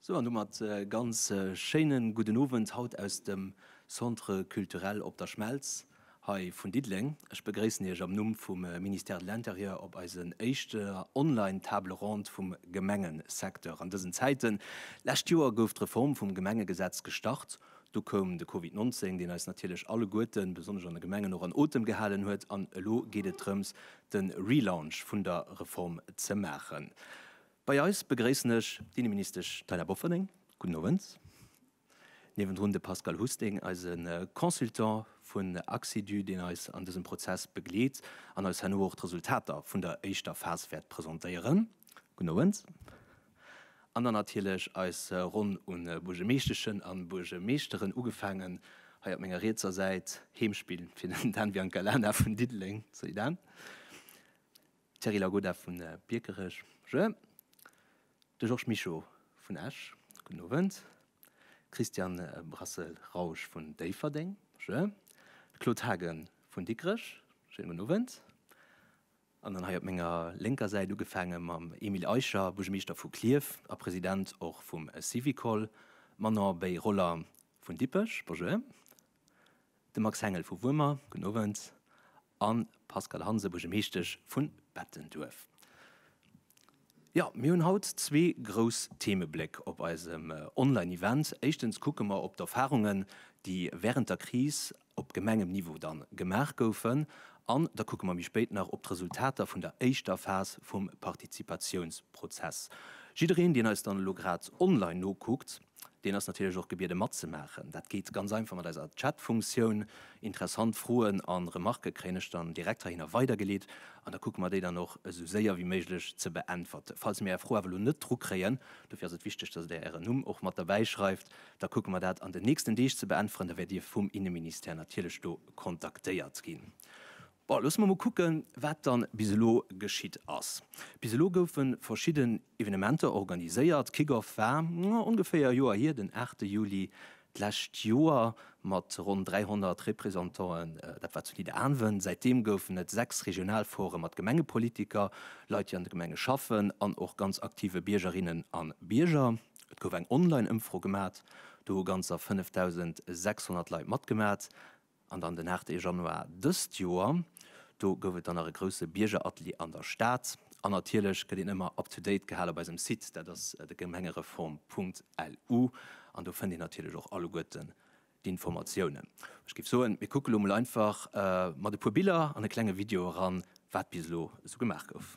Sou an domat e ganz schéine gudden Owend haut aus dem Centre Culturel Op der Schmelz hei vun Diddeleng. Ech begréissen Iech am Numm vum Ministère de l'Intérieur op eisen éischter online Table ronde vum Gemengesecteur an dësen Zäiten. Lescht Joer gouf d'Reform vum Gemengegesetz gestart. Du koum de Covid 19, deen eis natierlech alleguerten, besonnesch an de Gemengen, och an Otem gehalen huet. An elo geet et drëms, de Relaunch vun der Reform ze maachen. Bei eis begréissen ech d'Inneministesch Taina Bofferding. Gudden Owend. Niewendrun de Pascal Husting, eise Consultant vun Axidu, deen eis an dësem Prozess begleet an eis herno och d'Resultater vun der éischter Phas wäert presentéieren. Gudden Owend. An dann natierlech eis Ronn un Buergemeeschteschen an Buergemeeschteren, ugefaangen hei op menger rietser Säit, Heemspill fir den Dan Biancalana vun Diddeleng, salut Dan, Thierry Lagoda vun Biekerech, bonjour, de Georges Mischo vun Esch, gudden Owend, Christian Brassel-Rausch vun Déifferdeng, bonjour, de Claude Haagen vun Dikrech, schéine gudden Owend. An dann hei op menger lénker Säit, ugefaange mam Emile Eicher, Buergermeeschter vu Klierf a President och vum Syvicol, Manon Beyrolla vun Dippech, Bonjour, de Max Hengel vu Wuermer, Gudden Owend, a Pascale Hansen, Buergermeeschtesch vu Bettenduerf. Jo, mir hunn haut zwee grouss Themebléck op eisem Online-Event. Éischtens kucke mer op d'Erfarungen, déi wärend der Kris op Gemengenniveau dann gemaach goufen an da kucke mer méi spéit nach op d'Resultater vun der éischter Phas vum Partizipatiounsprozess. Jiddereen, deen eis dann elo grad online nokuckt, deen ass natierlech och gebiede matzemaachen. Dat geet ganz einfach mat eiser Chatfunktioun. Interessant Froen a Remarke kréien ech dann direkt heihinner weidergeleet an da kucke mer déi dann och esou séier wéi méiglech ze beäntwerten. Falls mir Är Fro awer elo net drukréien, dofir ass et wichteg, dass Der Ären Numm och mat derbäischreift, Da kucke mer dat an den nächsten Deeg ze beäntweren. Da wäert Dir vum Inneministère natierlech do kontaktéiert ginn. Bon, loosse mer mol kucken, wat da bis elo geschitt ass. Bis elo goufe verschidden Evenementer organiséiert. Kick-Off war ongeféier e Joer hier, den aachte Juli d'lescht Joer mat ronn 300 Représentanten. Dat war zu Nidderaanwen. Säitdeem goufen et sechs Regionalforë mat Gemengepolitiker, Leit, déi an de Gemenge schaffen an och ganz aktive Biergerinnen a Bierger. Et gouf eng Online-Ëmfro gemat, do hu ganzer 5.600 Leit matgemat. An dann den 8 e Januar dëst Joer, do gouf et dann nach e grousse Biergeratelier an der Stad. An natierlech gëtt een ëmmer up to date gehal op eisem Site, dat ass de Gemengereform.lu, an do fënnt een natierlech och alleguerten d'Informatiounen. Ech géif soen, mir kucke lo mol einfach mat e puer Biller an e klenge Video eran, wat bis elo esou gemaach gouf.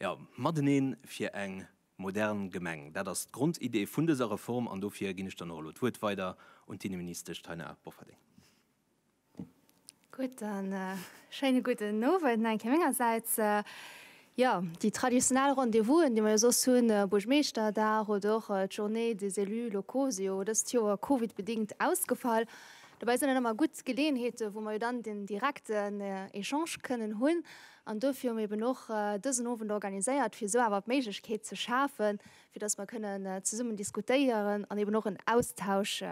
Jo, matenee fir eng modern Gemeng, dat ass d'Grondidee vun dëser Reform. An dofir ginn ech dann och elo d'Wuert weider un d'Inneministesch Taina Bofferding. Gudden, schéine gudden Owend nach eng Kéier mengersäits. Jo, déi traditionell Rendez-vous'en, déi mer jo soss hunn, Buergmeeschterdag oder och d'Journée des élus locaux, si jo dëst Joer Covid-bedingt ausgefall. Dobäi sinn et ëmmer gutt Geleeënheeten, wou mer jo dann den direkten Echange kënnen hunn. An dofir hu mer eben och dësen Owend organiséiert, fir esou awer d'Méiglechkeet ze schafen, fir dass mer kënnen zesummen diskutéieren an eben och en Austausch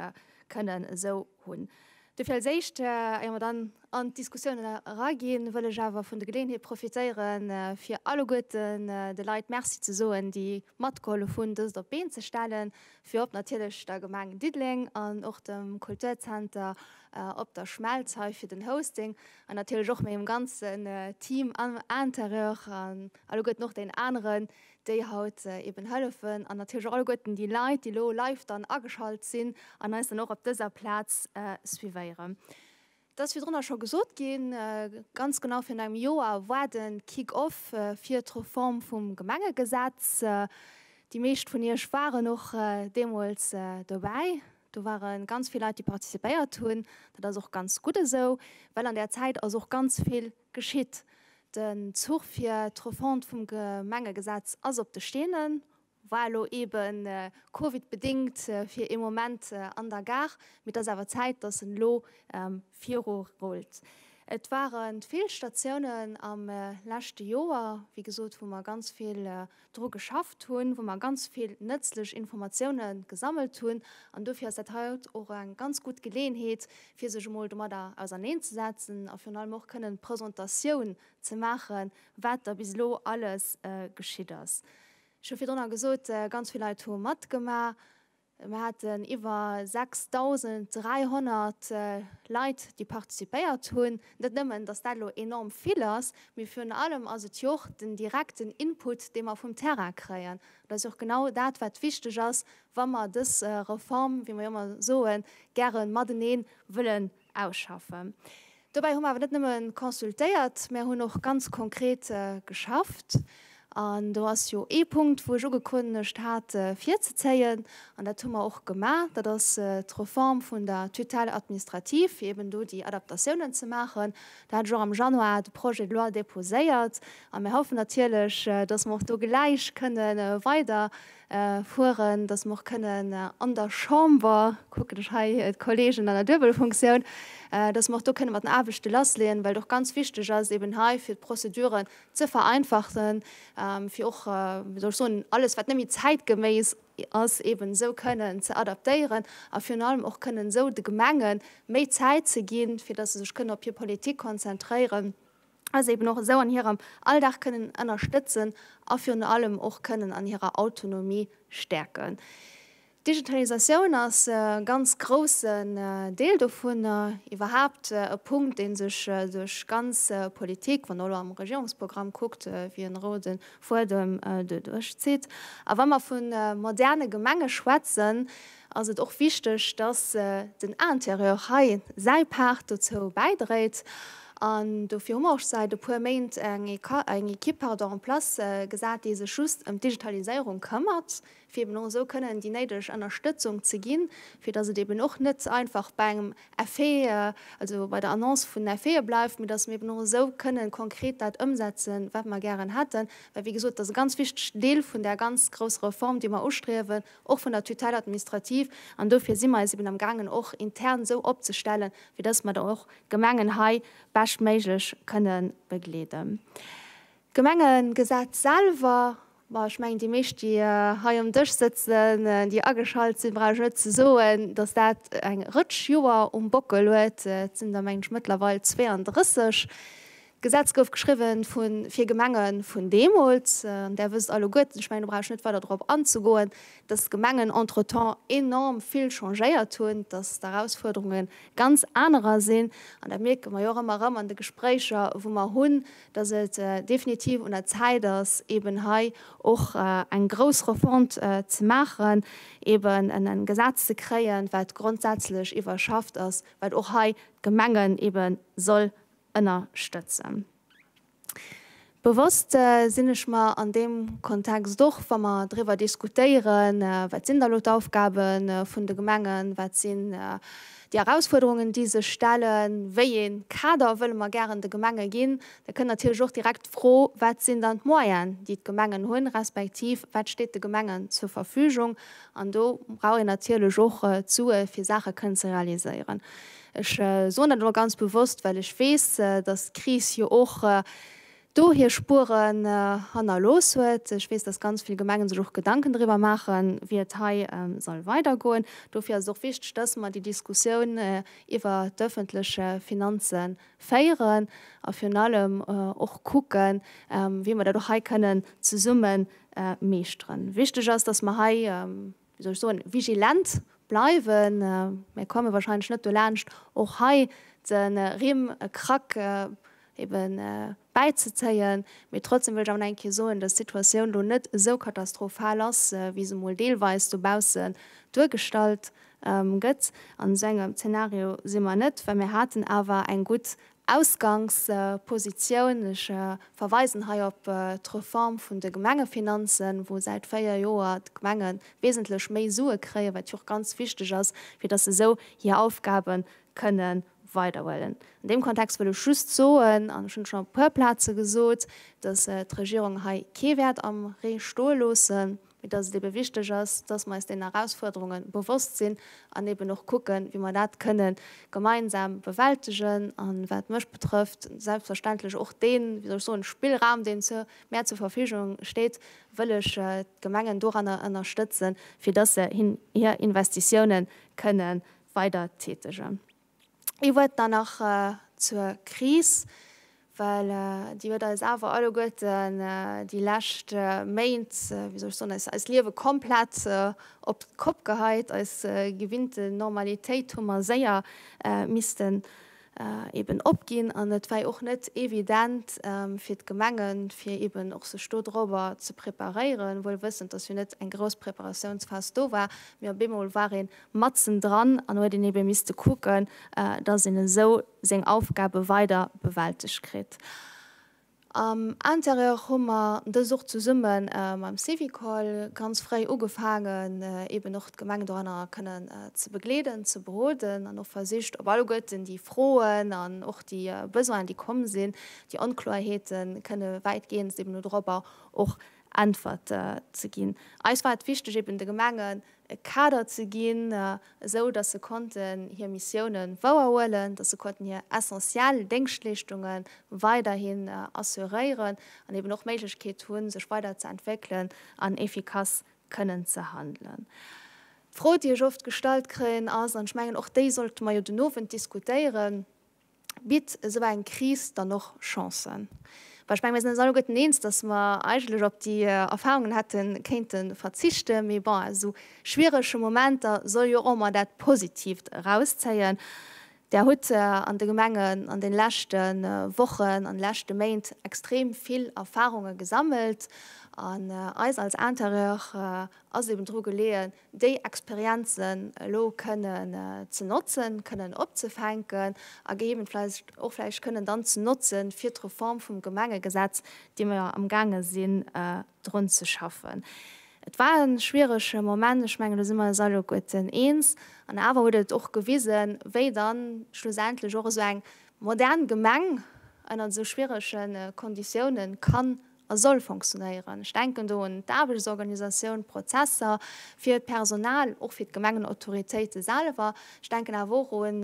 kënnen esou hunn. Dofir als Éischt, éier mer dann an d'Diskussioun eraginn, wëll ech awer vun der Geleeënheet profitéieren, fir alleguerten de Leit Merci ze soen, déi matgeholf hunn, dëst op d'Been ze stellen, virop natierlech der Gemeng Diddeleng an och dem Kulturzenter Op der Schmelz hei fir den Hosting an natierlech och mengem ganzen Team am Interieur an alleguerten och deenen aneren, déi haut eben hëllefen an natierlech och alleguerten déi Leit, déi elo live dann ageschalt sinn an eis dann och op dëser Plaz suivéieren. Et ass virdrunner scho gesot ginn, ganz genau virun engem Joer war de Kick-off fir d'Reform vum Gemengegesetz. Déi meescht vun Iech waren och deemools dobäi. Do ware ganz vill Leit, déi participéiert hunn. Dat ass och ganz gutt esou, well an där Zäit ass och ganz vill Geschitt. Den Zuch fir d'Refonte vum Gemengegesetz ass op de Steenen, war elo ebe covidbedéngt fir ee Moment an der Gare, mee et ass awer Zäit, datt en elo viru rullt. Et ware vill Statiounen am leschte Joer, wéi gesot, wou mer ganz vill dru geschafft hunn, wou mer ganz vill nëtzlech Informatioune gesammelt hunn an dofir ass dat haut och eng ganz gutt Geleeënheet, fir sech emol domadder auserneenzesetzen a virun allem och kënnen d'Presentatioun ze maache wat da bis elo alles geschitt ass. Ech hu virdrunner gesot, ganz vill Leit hu matgemaach. Mir haten iwwer 6.300 Leit, déi participéiert hunn. Net nëmmen, dass dat elo enorm vill ass, mee virun allem ass et jo och den direkten Input, dee mer vum Terrain kréien. Dat ass jo och genau dat, wat wichteg ass, wa mer dës Reform, wéi mer jo ëmmer soen, gäre matenee wëlle Ausschaffen. Dobäi hu mer awer net nëmme consultéiert, mä hunn och ganz konkret geschafft. An do ass jo ee Punkt, wou ech ugekënnegt hat virzezéien, an dat hu mer och gemaach, dat ass d'Reform vun der Tutelle administrative, fir eeben do déi Adaptatiounen ze maachen. Do hat ech och am Januar de Projet de loi déposéiert. A mir hoffen natierlech, dass mer och do gläich kënnen weider fueren, dass mer och kënnen an der Chamber, kucken ech hei d'Kollegen an der Duebelfunktioun, dass mer och do kënne mat den Aarbechte lassleeën, well et och ganz wichteg ass eben hei fir d'Prozeduren ze vereinfachen, fir och, wéi soll ech soen, alles wat net méi zäitgeméiss ass eben esou kënnen ze adaptéieren a virun allem och kënnen esou de Gemenge méi Zäit ze ginn, fir dass se sech kënnen op hir Politik konzentréieren. a se eben och esou an hirem Alldag kënnen ënnerstëtzen a virun allem och kënnen an hirer Autonomie stäerken. D'Digitalisatioun ass e ganz groussen Deel dovun, iwwerhaapt e Punkt, dee sech duerch ganz Politik, wann Der elo am Regierungsprogramm kuckt, wéi e rouden Fuedem doduerch zitt. A wa mer vu moderne Gemenge schwätzen, ass et och wichteg, dass den Interieur hei säi Part dozou bäidréit. An dofir hu mer och säit e puer Méint eng Ekipp en place gesat, déi sech just ëm d'Digitaliséierung këmmert, fir eben och esou kënnen déi néideg Ënnerstëtzung ze ginn, fir dass et eben och net einfach bei engem Effet, also bei der Annonce vun Effete bleift, mee dass mer eben och esou kënnen konkret dat ëmsetzen, wat mer gären hätten. Well, wéi gesot, et ass e ganz wichtegen Deel vun där ganz grousser Reform, déi mer ustriewen. och vun der Tutelle administrative, an dofir si mer eis eben am gaangen och intern esou opzestellen, fir dass mer da och d'Gemengen hei beschtméiglech kënne begleeden. D'Gemengegesetz selwer, ma ech mengen déi meescht déi hei um Dësch sëtzen, déi ageschalt sinn, brauch ech net ze soen, dass dat eng Rëtsch Joer um Bockel huet, et sinn der meng ech mëttlerweil 32, D'Gesetz gouf geschriwwen vu fir Gemengen vun deemools. An Där wësst alleguerten, ech mengen do brauch ech net weider drop anzegoen, dass d'Gemengen entretemps enorm vill changéiert hunn, dass d'Erausfuerderunge ganz anerer sinn. An dat mierke mer jo och ëmmer erëm an de Gespréicher wou mer hunn, dass et definitiv un der Zäit ass eben hei och eng grouss Refonte ze maachen, eben e Gesetz ze kréien, wat grondsätzlech iwwerschafft ass, wat och hei d'Gemengen eben soll ënnerstëtzen. Bewosst sinn ech mer an deem Kontext och, wa mer driwwer diskutéieren, wat sinn da elo d'Aufgabe vun de Gemengen, wat sinn déi Erausfuerderungen, déi sech stellen, wéi ee Kader wëlle mer gären de Gemenge ginn, da kënn natierlech och direkt d'Fro, wat sinn dann d'Moyene, déi d'Gemengen hunn, respektiv wat steet de Gemengen zur Verfügung. An do brauch een natierlech och d'Sue fir Saache kënnen ze realiséieren. Ech soen dat elo ganz bewosst, well ech weess, dass d'Kris jo och do hir Spueren hannerlooss huet. Ech weess, dass ganz vill Gemengen sech och Gedanken driwwer maachen, wéi et hei soll weidergoen. Dofir ass et och wichteg, dass mer déi Diskussioun iwwer d'öffentlech Finanze féieren a virun allem och kucken, wéi mer dat och hei kënnen zesumme meeschteren. Wichteg ass, dass mer hei wéi soll ech soen, vigilent bleiwen. Mir komme wahrscheinlech net dolaanscht och hei de Rimm e Krack ebe bäizezéien. Mee trotzdem wëll ech awer nach eng Kéier soen, dass d'Situatioun elo net esou katastrophal ass, wéi se emol deelweis dobaussen duergestallt gëtt. An esou engem Zeenario si mer net, well mir haten awer eng gutt Ausgangspositioun, Ech verweisen hei op d'Reform vun de Gemengefinanzen, wou säit véier Joer d'Gemenge wesentlech méi Sue kréien, wat jo och ganz wichteg ass, fir datt se esou hir Aufgabe kënne weiderhuelen. An deem Kontext wëll ech just soen, an ech hunn et schonn op e puer Plaze gesot, datt d'Regierung hei kee wäert am Ree stoe loossen. mee dass et ebe wichteg ass, dass mer eis deenen Erausfuerderunge bewosst sinn an eben och kucken, wéi mer dat kënnen gemeinsam bewältegen an, wat mech betrëfft, selbstverständlech och dee, wéi soll ech soen, Spillraum, deen mär zur Verfügung steet, wëll ech d'Gemengen doranner ënnerstëtzen, fir dass se hir Investitiounen kënnen weidertätegen. Ee Wuert dann nach zur Kris, well déi huet eis awer alleguerten déi lescht Méint, wéi soll ech soen, eis eist Liewe komplett op d'Kopp geheit. Eis gewinnte Normalitéit hu mer séier missten eben opginn an et war jo och net evident fir d'Gemengen, fir eben och sech do dorobber ze preparéieren, wuel wëssend, datt jo net eng grouss Preparatiounsphas do war, mee op eemol war een matzen dran an huet een ebe misste kucken, dass een esou seng Aufgabe weider bewältegt kritt. Am Intérieur hu mer dës och zesumme mam Syvicol ganz fréi ugefaangen, eben och d'Gemeng doranner kënnen ze begleeden, ze beroden an och versicht op alleguerten déi Froen an och déi Besoinen, déi komm sinn, déi Onkloerheeten, kënne wäitgehends eben dorobber och Äntwerte ze ginn. Eis war et wichteg, eben de Gemengen e Kader ze ginn, esou datt se konnten hir Missioune wouerhuelen, datt se konnten hir essentiell Déngschtleeschtunge weiderhin assuréieren an eben och Méiglechkeet hu sech weider ze entwéckelen an efficace kënnen ze handelen. D'Fro déi ech oft gestallt kréien ass, an ech mengen och déi sollte mer jo den Owend diskutéieren, Bitt esou eng Kris dann och Chancen? Well ech mengen, mir sinn eis alleguerten eens, datt mer eigentlech op déi Erfarungen hätte kéinte verzichten. Mee bon, aus esou schwierege Momenter soll jo och emmer dat Positiivt erauszéien. Der hutt an de Gemengen an deene leschte Wochen, an de leschte Méint extrem vill Erfarunge gesammelt. An eis als Intérieur ass eben dru geleeën, déi Experienzen elo kënnen ze notzen, kënnen opzefänken a gegeebenf falls och vläicht kënnen dann ze notzen, fir d'Reform vum Gemengegesetz, déi mer jo amgaange sinn drun ze schaffen. Et war e schwierege Moment, ech mengen, do si mer eis alleguerten eens, an awer huet et och gewisen, wéi dann schlussendlech och esou eng modern Gemeng ënnert esou schwierege Konditiounen kann a soll fonctionnéieren. Ech denken do un d'Aarbechtsorganisatioun, d'Prozesser fir d'Personal, och fir d'Gemengenautoritéite selwer. Ech denken awer och un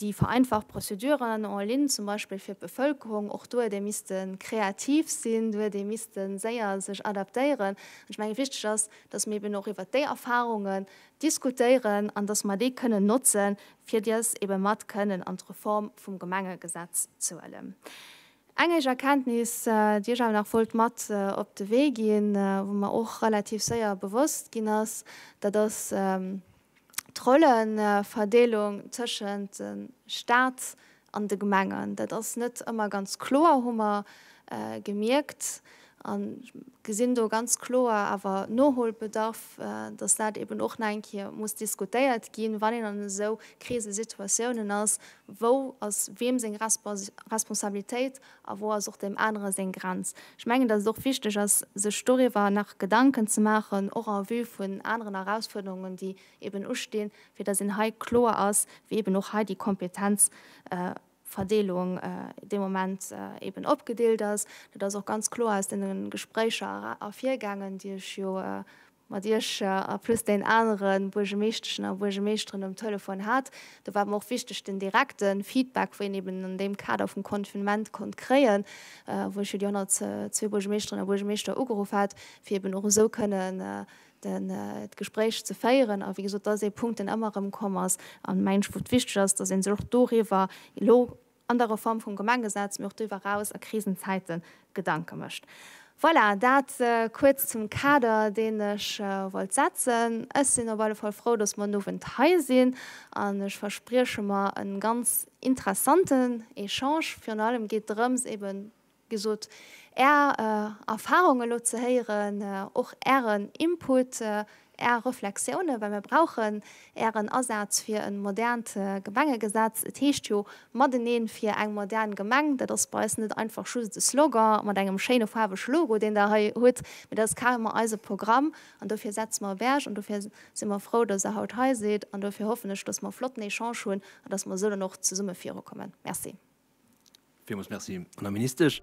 déi vereinfacht Prozeduren en ligne zum Beispill fir d'Bevëlkerung. Och do huet ee misste kreativ sinn, do huet ee misste séier sech adaptéieren. Ech menge wichteg ass, datt mir eben och iwwert déi Erfahrungen diskutéieren an datt mer déi kënnen notzen, fir dës ebe mat kënnen an d'Reform vum Gemengegesetz ze huelen. Eng éischt Erkenntnis, déi ech awer nach wollt mat op de Wee ginn, wou mer och relativ séier bewosst ginn ass, dat ass d'Rolleverdeelung tëschent de Staat an de Gemengen. Dat ass net ëmmer ganz kloer, hu mer gemierkt. An ech gesinn do ganz kloer awer Noholbedarf, dass dat eben och nach eng Kéier muss diskutéiert ginn, wann een an esou Krisesituatiounen ass, wou ass wiem seng Responsabilitéit a wou ass och deem anere seng Grenz. Ech mengen, dass et och wichteg ass, sech doriwwer nach Gedanken ze maachen, och en vue vun aneren Erausfuerderungen, déi eben ustinn, fir dass een hei kloer ass, wéi eben och hei déi Kompetenz Verdeelung dee Moment eben opgedeelt ass. Dat ass och ganz kloer aus deene Gespréicher ervirgaangen, déi ech jo mat Iech a plus deenen anere Buergemeeschteschen a Buergemeeschteren um Telefon hat. Do war et mer och wichteg, den direkte Feedback, wou een eben an deem Kader vum Confinement konnt kréien, wou ech jo déi 102 Buergemeeschterinnen a Buergemeeschter ugeruff hat, fir eben och esou kënnen d'Gespréich ze féieren. A wéi gesot, dat ass ee Punkt, deen ëmmer erëmkomm ass an, mengen ech, wou et wichteg ass, dass ee sech och doriwwer elo an der Reform vum Gemengesetz, mee och doriwwer eraus a Krisenzäite Gedanke mécht. Voilà, dat kuerz zum Kader, deen ech wollt setzen. Ech sinn op alle Fall frou, dass mer den Owend hei sinn an ech versprieche mer e ganz interessanten Echange. Virun allem geet et drëms, eeben gesot, Är Erfarung elo ze héieren, och Ären Input, Är Reflexiounen, well mir brauchen Ären Asaz fir e modernt Gemengegesetz. Et heescht jo Mateneen fir eng modern Gemeng. Dat ass bei eis net einfach just e Slogan mat engem schéine faarwege Logo, deen Der hei hutt, mee dat ass carrement eise Programm. An dofir setze mer e Berg an dofir si mer frou, dass Der haut hei sidd an dofir hoffen ech, dass mer e flotten Echange hunn an dass mer esou dann och zesumme virukommen. Merci. Villmools Merci an der Ministesch.